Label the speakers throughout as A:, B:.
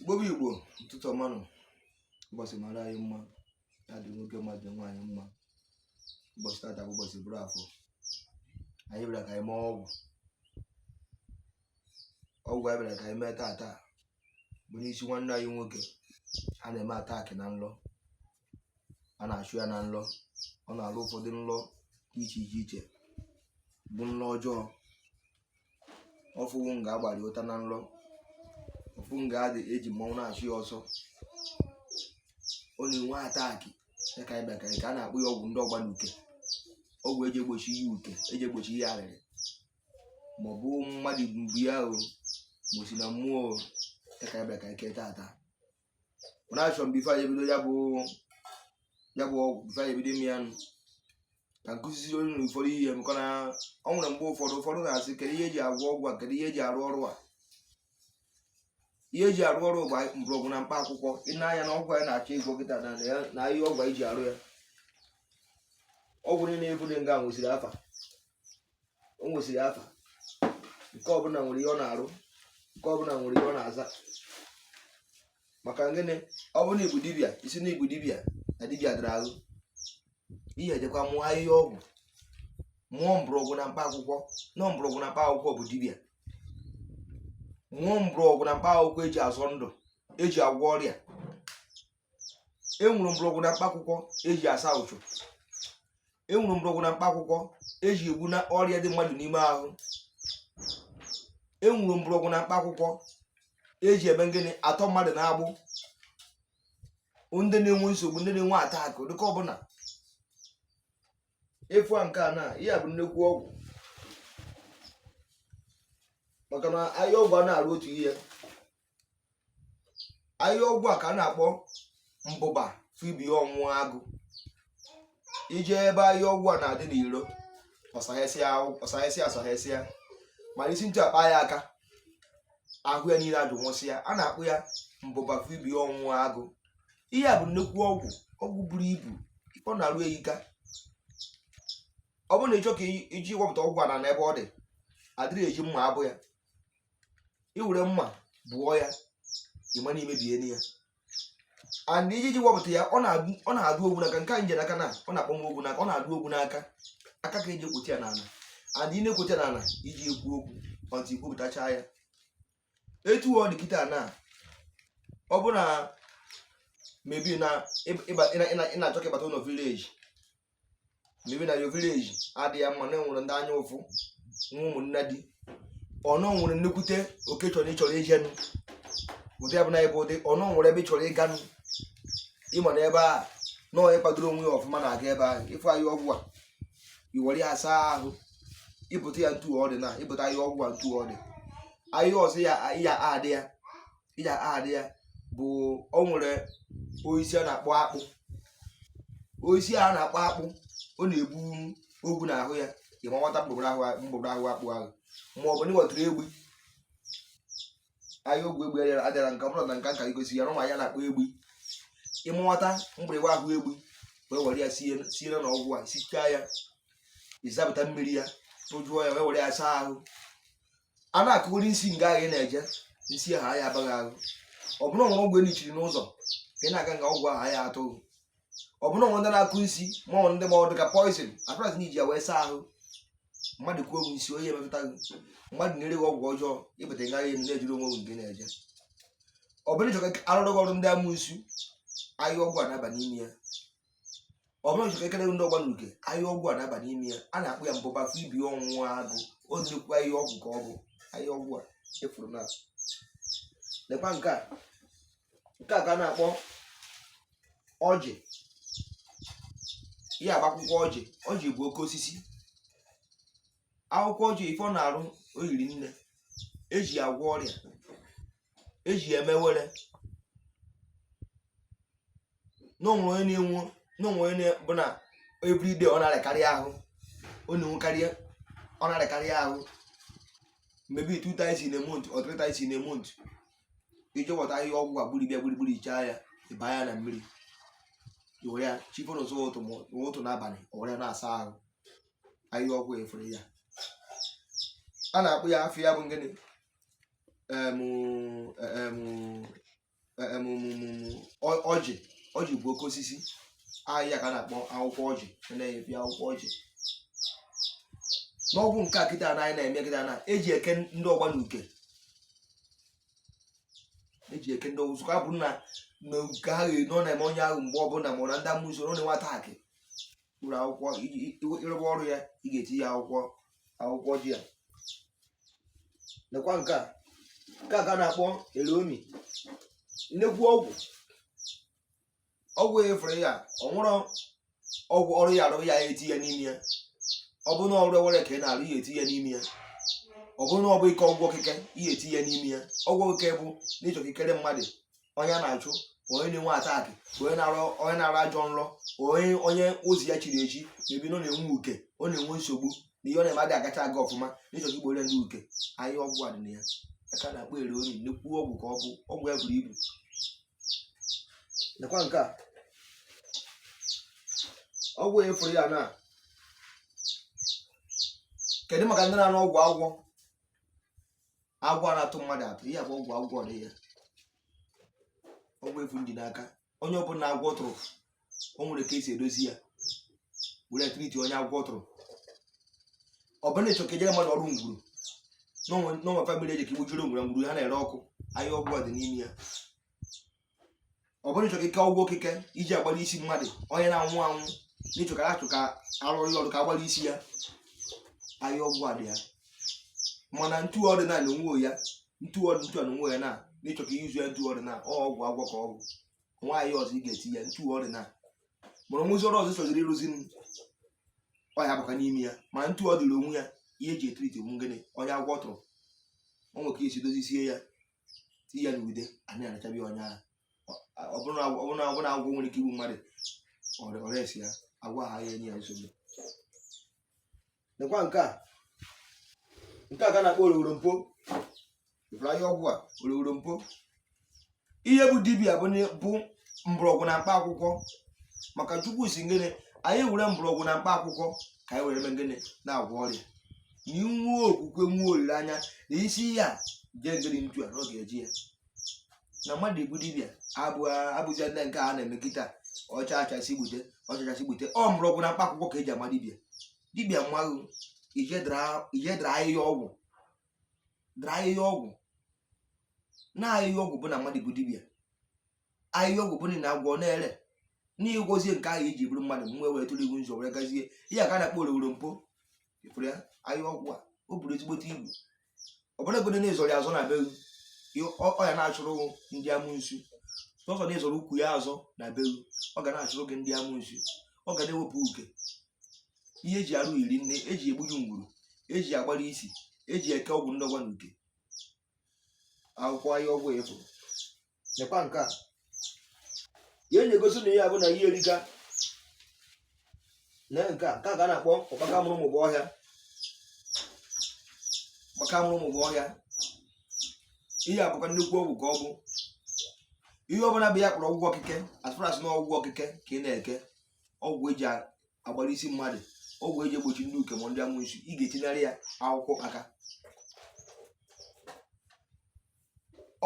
A: igbo bụ igbo ụtụtụ ọma nụ ụbọchị mara anyị mma ya dị nwoke mma dị nwaanyị mma ụbọchị tata bụ ụbọchị bụrụ afọ anyị bịara ka anyị mee ọgwụ ọgwụ anyị bịara ka anyị mee tata bụ n'isi nwanne anyị nwoke a na-eme attack na nlọ a na-achụ ya na nlọ ọ na-alọ ụfọdụ nlọ dị iche iche iche bụ nlọ ọjọọ ọ fụwu nga a gbara ya ụta na nlọ ọ fụ nga a dị eji mmọnwụ na-achụ ya ọsọ ọ na-enwe attack ya ka anyị bịa ka anyị kee a na-akpọ ya ọgwụ ndị ọgba n'uke ọgwụ eji egbochi ihe uke eji egbochi ihe arịrị ma ọ bụ mmadụ bu ya o ma o si na mmụọ o ya ka anyị bịa ka anyị kee tata mana achọ m before anyị ebido ya bụ ya bụ ọgwụ before anyị ebido ime ya nụ ka m kuziziri unu ụfọdụ ihe maka na o nwere mgbe ụfọdụ ụfọdụ na-asị kedu ihe eji agwọ ọgwụ a kedu ihe eji arụ ọrụ a ihe eji arụ ọrụ bụ mgbọrọgwụ na mkpa akwụkwọ i nee anya na ọgwụ anyị na-achọ ịgwọ kịta na ya na ihe ọgwụ anyị ji arụ ya ọgwụ niile ebu dị nga nwesịrị afa o nwesịrị afa nke ọbụla nwere ihe ọ na-arụ nke ọbụla nwere ihe ọ na-aza maka gịnị ọ bụrụ na ị bụ dibịa ị sị na ị bụ dibịa na dibịa dara ahụ ị ya-ejekwa mụọ ahịhịa ọgwụ mụọ mgbọrọgwụ na mkpa akwụkwọ na ọ mgbọrọgwụ na mkpa akwụkwọ bụ dibịa mụọ mgbọrọgwụ na mkpa akwụkwọ eji azọ ndụ eji agwọ ọrịa enwere mgbọrọgwụ na mkpa akwụkwọ eji asa uchu enwere mgbọrọgwụ na mkpa akwụkwọ eji egbu na ọrịa dị mmadụ n'ime ahụ enwere mgbọrọgwụ na mkpa akwụkwọ eji eme ngịnị atọ mmadụ n'agbụ ndị na-enwe nsogbu ndị na-enwe attack dịka ọbụla ị fụ a nke a na ihe a bụ nnekwu ọgwụ maka na ahịhịa ọgwụ a na-arụ otu ihe ahịhịa ọgwụ a ka a na-akpọ mbụba fibi ọnwụ agụ i jee ebe ahịhịa ọgwụ a na-adị n'iro ọ sahesịa ọ sahesịa ọ sahesịa mana isi ntụ akpa ya aka ahụ ya niile ajụ nwụsịa a na-akpọ ya mbụba fibi ọnwụ agụ ihe a bụ nnekwu ọgwụ ọgwụ buru ibu ọ na-arụ eyika ọ bụrụ na ị chọ ka i ji wepụta ọgwụ a na n'ebe ọ dị adịrị eji mma abụ ya i were mma bụọ ya ị ma na i mebie ya and iji ji wepụta ya ọ na-adụ ogwu n'aka nke a m ji n'aka na ọ na-akpọ m ogwu n'aka ọ na-adụ ogwu n'aka aka ka eji egwute ya n'ala and ị na-egwute ya n'ala iji ekwu okwu until i gwupụtacha ya etu ọ dị kịta na ọ bụ na maybe na ị na-achọ ka ị bata ụlọ village maybe na your village adịghị mma na e nwere ndị anya ụfụ nwa ụmụnne di ọnụ nwere nnukwute oke chọrọ ịchọrọ ijenụ ụdị abụla ebe ụdị ọnụ nwere ebe ị chọrọ ịganụ ị ma na ebe a na onye kwadoro onwe ya ọfụma na-aga ebe ahụ ị fụ ahịa ọgwụ a i were ya saa ahụ i bute ya ntu ọ dị na i bute ahịa ọgwụ a ntu ọ dị ahịa ọzọ ya ya adị ya iji adị ya bụ o nwere osisi a na-akpọ akpụ osisi a na-akpọ akpụ ọ na-ebu ogwu n'ahụ ya ị mawata mgbugbo ahụ mgbugbo ahụ akpụ ahụ ma ọ bụ na ị ghọtara egbu ahịa ọgwụ egbu adịra adịra nke ọbụla na nka nka igosi ya na ụmụ ya na-akpọ egbu ị mawata mgbịrịgba ahụ egbu wee were ya sie sie na ọgwụ a sichaa ya ị zapụta mmiri ya tụjụọ ya wee were ya saa ahụ a na-akụgori nsi nga ahụ ị na-eje nsi ahụ aya aba gị ahụ ọ bụ na o nwere ọgwụ e nichiri n'ụzọ ka ị na-aga nga ọgwụ ahụ aya atụ gị ọ bụ na o nwere ndị na-akụ nsi ma ọ ndị ma ọ dị ka poison as far as na i ji ya wee saa ahụ mmadụ kụọ ọgwụ nsi onye emetụta gị mmadụ na-ere gị ọgwụ ọjọọ ị bata nga ahụ na-ejiri onwe gị nke na-eje ọ bụ na ị chọ ka a rụọrọ gị ọrụ ndị amusu ahịa ọgwụ a na-aba n'ime ya ọ bụrụ n'ịchọ ikekele ndị ọgba n'uke ahịa ọgwụ a na-aba n'ime ya a na-akpọ ya mbụba afọ ibi ọnwụ agụ o nnukwu ahịa ọgwụ ka ọ bụ ahịa ọgwụ a efuru na lekwa nke a nke a ka a na-akpọ ọjị ihe a bụ akwụkwọ ọjị ọjị bụ oke osisi akwụkwọ ọjị ife ọ na-arụ o yiri nne eji ya agwọ ọrịa eji ya eme ewere na o nwee onye na-enwu na o nwee onye bụ na everyday ọ na-arịakarị ahụ ọ na-enwekarị ọ na-arịakarị ahụ maybe two times in a month or three times in a month i je wọta ahịhịa ọgwụ a gburibịa gburugburu ichaa ya ị baa ya na mmiri were ya chi fo n'ụzọ ụtụtụ n'abalị o were ya na-asa ahụ ahịhịa ọgwụ efere ya a na-akpọ ya afa ya bụ ngịnị ọjị ọjị bụ oke osisi ahịa ka a na-akpọ akwụkwọ ọjị na-ebi akwụkwọ ọjị na ọ bụ nke a kịta na anyị na-eme kịta na eji eke ndị ọgba n'uke eji eke ndị ọgwụ zụka bụ na uke ahụ nọ na-eme onye ahụ mgbe ọbụla ma na ndị amusu ọ na-enwe attack ụlọ akwụkwọ ị rụba ọrụ ya ị ga-etiye akwụkwọ akwụkwọ ọjị a lekwa nke a nke a ka a na-akpọ elomi nnekwu ọgwụ ọgwụ efere ya ọ nwụrụ ọgwụ ọrụ ị ya-arụ ị ya-etiye n'ime ya ọ bụrụ na ọrụ ewere ka ị na-arụ ị ya-etiye n'ime ya ọ bụrụ na ọ bụ ike ọgwụ okike ị ya-etiye n'ime ya ọgwụ okike bụ n'ịchọ ikekere mmadụ onye na-achụ onye na-enwe attack onye na-arọ onye na-arọ ajọ nrọ onye onye ozi ya chiri echi maybe na ọ na-enwe uke ọ na-enwe nsogbu na ihe ọ na-eme adịghị agacha aga ọfụma na ịchọ igboro ya ndị uke ahịhịa ọgwụ a dị na ya a ka a na-akpọ ere onye nnukwu ọgwụ ka ọ bụ ọgwụ ya buru ibu nekwa nke a ọgwụ a ị fụrụ ya nke a dị maka ndị na-aṅụ ọgwụ agwọ agwọ na-atụ mmadụ atụ ihe bụ ọgwụ agwọ dị ya ọgwụ a ị fụ m ji n'aka onye ọbụla agwọ tụrụ o nwere ka esi edozi ya were treat onye agwọ tụrụ ọ bụrụ na ịchọ ka i jeere mmadụ ọrụ ngwuru na o nwe family eji ka igbujuru ngwuru ngwuru ha na-ere ọkụ ahịhịa ọgwụ a dị n'ime ya ọ bụrụ ịchọ ka i kee ọgwụ okike eji agbara isi mmadụ onye na-anwụ anwụ n'ịchọ ka achọ ka arụrụ ya ọrụ ka agbara isi ya ahịhịa ọgwụ a dị ya mana ntụ a dịrị onwe ya ntụ ọ dị ntụ a dị onwe ya na n'ịchọ ka izu ya ntụ ọdịnala ọ ọgwụ agwọ ka ọ bụ nwaanyị ọzọ ị ga-eti ya ntụ ọdịnala mụrụ nwụzi ọrụ ọzọ chọziri ịrụzi m ọ ya bụkwa n'ime ya mana ntụ ọ dịrị onwe ya ihe eji etriti bụ gịnị onye agwọ tụrụ o nwere ka esi dozisie ya tinye ya n'ude anyị anachabi onye ahụ ọ bụrụ na agwọ- ọ bụrụ na ọ bụrụ na agwọ nwere ike igbu mmadụ ọrịa ọrịa esi ya agwọ ahụ ya enye ya nsogbu nekwa nke a nke a ka a na-akpọ oroworo mpo ịfụrụ ahịhịa ọgwụ a oroworo mpo ihe bụ dibịa bụ na- bụ mgbọrọgwụ na mkpa akwụkwọ maka chukwu sị gịnị anyị were mgbọrọgwụ na mkpa akwụkwọ ka anyị were mee gịnị na-agwọ ọrịa i nwee okwukwe nwee olileanya na ị sị ya jee gịnị ntu a na ọ ga-eje ya na mmadụ ịbụ dibịa abụghị ndị nke a na-eme kịta ọcha achasị gbute ọcha achasị gbute ọ mgbọrọgwụ na mkpa akwụkwọ ka eji ama dibịa dibịa amaghị ije dara ahịhịa ọgwụ dara ahịhịa ọgwụ na ahịhịa ọgwụ bụ na mmadụ bụ dibịa ahịhịa ọgwụ bụ na agwọ na-ere n'ịgwọzie nke ahụ iji bụrụ mmadụ mgbe were tụrụ iwu nzọ were gazie ihe a ka na-akpọ oroworo mpo ịfụrụ ya ahịhịa ọgwụ a o buru ezigbote ibu ọ bụrụgodu na ị zọrọ ya azọ na be ọ ya na-achụrụ ndị amụnsu sọsọ na ị zọrọ ukwu ya azọ na be ọ ga na-achụrụ gị ndị amụnsu ọ ga na-ewepụ uke ihe eji arụ iri nne eji egbuju ngwuru eji agbara isi eji eke ọgwụ ndọgwa na uke akwụkwọ ahịhịa ọgwụ a ị fụ nekwa nke a ihe na-egosi na ihe a bụ na ihe erika na nke a nke a ka a na-akpọ ọkpaka mụrụ mụbụ ọhịa ọkpaka mụrụ mụbụ ọhịa ihe a bụkwa nnukwu ọgwụ ka ọ bụ ihe ọbụla bụ ihe a kpọrọ ọgwụ okike as far as na ọgwụ okike ka ị na-eke ọgwụ eji agbara isi mmadụ ọgwụ eji egbochi ndị uke ma ndị amụnsu ị ga-etinyere ya akwụkwọ aka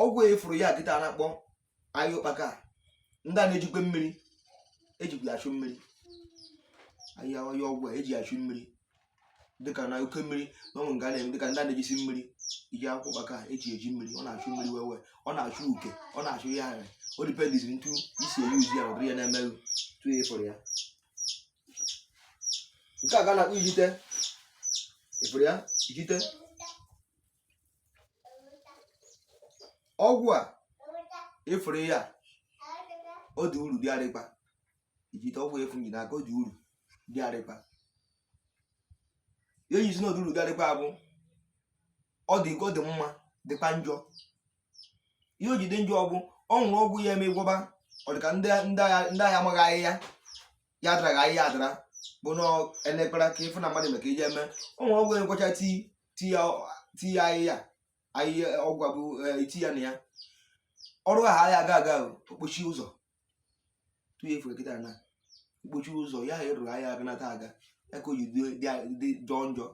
A: ọgwụ ịfụrụ ya kịta na-akpọ ya ụkpaka ndị a na-ejikwa mmiri eji achụ mmiri ahịa ahịa ọgwụ a eji achụ mmiri dịka na oke mmiri na o nwe nga na-eme dịka ndị a na-ejisi mmiri iji akwụkwọ ụkpaka eji eji mmiri ọ na-achụ mmiri wee ọ na-achụ uke ọ na-achụ ihe ahụ ọ depends ntu i si a-use ya ụdịrị ya na-emeghị tu ya ịfụrụ ya nke a ka a na-akpọ ijite ịfụrụ ya ijite ọgwụ a ịfụrụ ya ọ dị uru dịgharịkwa ijite ọgwụ a ịfụ m ji n'aka ọ dị uru dịgharịkwa ihe eji sị na ọ dị uru dịgharịkwa bụ ọ dị ọ dị mma dịkwa njọ ihe o ji dị njọ bụ o nwere ọgwụ ya eme gwọba ọ dị ka ndị ndị agha ndị agha amaghị ahịhịa ya adaraghị ahịhịa adara bụ na elekpara ka ịfụ na mmadụ maka iji eme o nwere ọgwụ ya ngwọcha tii tinye ahịhịa ahịhịa ọgwụ a bụ eti ya na ya ọrụ ahụ ahịa aga aga ọ kpochie ụzọ tụnye ịfụ kịta na ọ kpochie ụzọ ya ha ịrụrụ ahịa aga nata aga ya ka o ji dị jọọ njọ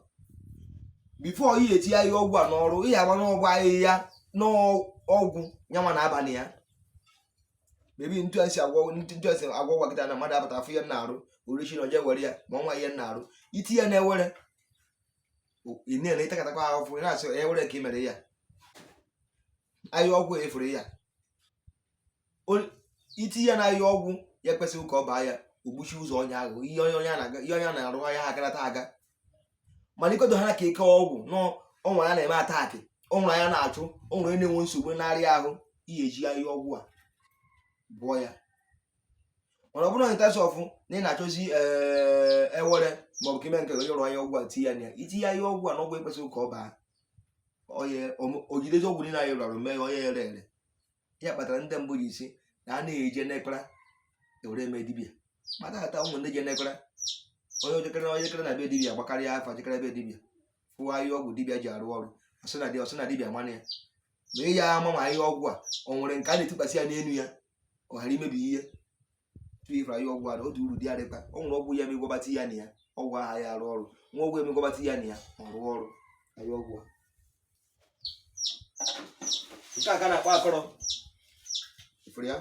A: before ị ga-eti ahịhịa ọgwụ a n'ọrụ ị ga-agba n'ọgwụ ahịhịa n'ọgwụ nyanwa na abalị ya maybe ntu esi agwọ ntu esi agwọ ọgwụ a kịta na mmadụ abata afụ ihe na-arụ orichi na oje were ya ma ọnwa ihe na-arụ iti ya na-ewere ị na-ele ịtakatakwa ahụfụ ị na-asị onye were ka ị mere ya ahịa ọgwụ ịfụrụ ya iti ya na ahịa ọgwụ ya kwesịrị ka ọ baa ya o gbochie ụzọ onye ahụ ihe onye onye a na-aga ihe onye a na-arụ ahịa ha agarata aga mana ikodo ha ka ike ọgwụ nọ o nwere ya na-eme attack o nwere ya na-achụ o nwere ya na-enwe nsogbu narị ahụ ihe eji ahịa ọgwụ a bụọ ya mana ọ bụrụ in terms of na ị na-achọzi eh, ewere maọbụ ka ime nke onye rụọ ahịa ọgwụ a tinye ya na ya itinye ahịa ọgwụ a na ọgwụ ekwesịghị ka ọ baa onye o jidezie ọgwụ niile anyị rụrụ mee ya onye ere ere ya kpatara ndị mbụ ji sị na a na-eje n'ekpara ewere eme dibia mata ata ụmụ ndị je n'ekpara onye o jekere onye jekere na be dibia gbakarịa afa jekere be dibia fụwa ahịa ọgwụ dibia ji arụ ọrụ ọ sị na dibia mana ya ma ị ya ama ma ahịa ọgwụ a o nwere nke a na-etikwasị ya n'elu ya ọ ghara imebi ihe tupu ịfụrụ ahịa ọgwụ a ọ dị uru dị adịkwa o nwere ọgwụ ya emegwabata ya na ya ọgwụ ahụ ya arụ ọrụ nwa ọgwụ emegwabata ya na ya ọ rụọ ọrụ ahịa ọgwụ nke a ka a na-akpọ akọrọ ịfụrụ ya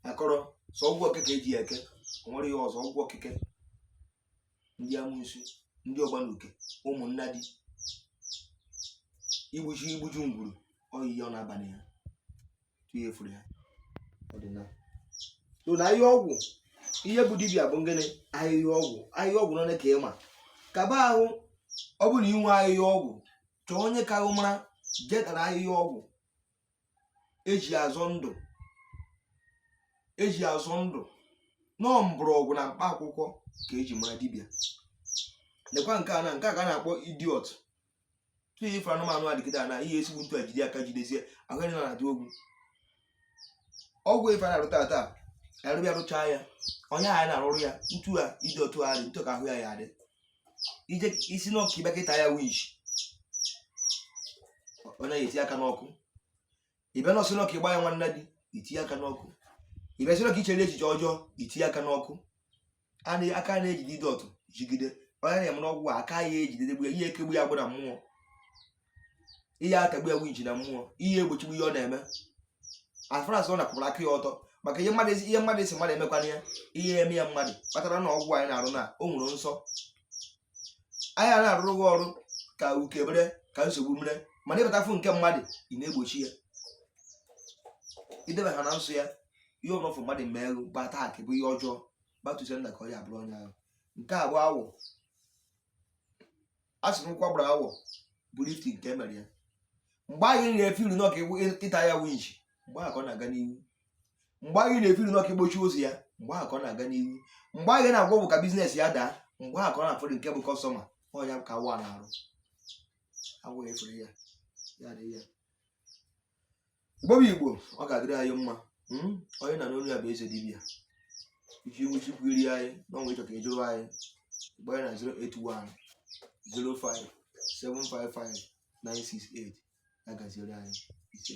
A: akọrọ sọ ọgwụ okeke eji ya eke o nwere ihe ọzọ ọgwụ okeke ndị amusu ndị ọgbanuke ụmụnnadi igbuju igbuju ngwuru oyiyi ọ na-abalị ha ihe furu ya ọdịnala so na ahịhịa ọgwụ ihe bụ dibịa bụ ngịnị ahịhịa ọgwụ ahịhịa ọgwụ nọ ka ịma kaba ahụ ọ bụrụ inwe ahịhịa ọgwụ chọọ onye ka ahụ mara jetara ahịhịa ọgwụ eji azọ ndụ eji azọ ndụ na ọ mgbọrọgwụ na mkpa akwụkwọ ka eji mara dibịa lekwa nke a na nke a ka a na-akpọ idiot tụnye ife anụmanụ adịgide na ihe esigbu ntu a jide aka jidesie ahụ ị na-adị ogwu ogwu ife a na-arụta ata a rụba ya rụchaa ya onye a na-arụrụ ya ntu a ịdị otu a dị ntu ka ahụ ya ya-adị i jee sị n'ọ ka ị bịa ka ị ta ya witch ọ na-eti aka n'ọkụ ị bịa nọ sị n'ọ ka ị gbaa ya nwannadi itinye aka n'ọkụ ị bịa sị n'ọ ka i chere echiche ọjọọ itinye aka n'ọkụ a na- aka na-ejide ide ọtụ jigide onye na-eme n'ọgwụ a, aka ya ejidede gbu ya ị ya-ekegbu ya agbụ na mmụọ ị ya-atagbu ya winchi na mmụọ ị ya-egbochigbu ihe ọ na-eme as far as ọ napụrụ aka ya ọtọ maka ihe mmadụ ihe mmadụ esi mmadụ emekwana ya ị ya-eme ya mmadụ kpatara na ọgwụ anyị na-arụ na o nwere nsọ anyị a na-arụrụ gị ọrụ ka uke bere ka nsogbu bere mana ịbatafụ nke mmadụ ị na-egbochi ya idebe ha na nsọ ya ihe ọbụla fụ mmadụ mere gị bụ attack bụ ihe ọjọọ back to sender ka ọ ya-abụrụ onye ahụ nke a bụ awọ a sị na ụkwụ a gbara awọ bụ lift nke e mere ya mgbe anyị na-efiri n'ọ ka ị ta ya winchi mgbe ahụ ka ọ na-aga n'ihu mgbe anyị na-efiri n'ọ ka i gbochie ụzọ ya mgbe ahụ ka ọ na-aga n'ihu mgbe anyị na-agwọ ọgwụ ka business ya daa mgbe ahụ ka ọ na-afọdụ nke bụ customer ọ ya ka awọ na-arụ awọ efere ya ya dị ya Igbo bụ Igbo ọ ga-adịrị anyị mma hmm? onye na-anụ olu ya bụ eze dibịa iji iwu chukwu iri anyị n'ọnwa ị chọọ ka ịjụrụ anyị gbaa na 081 05 755 968 ya gaziere anyị ise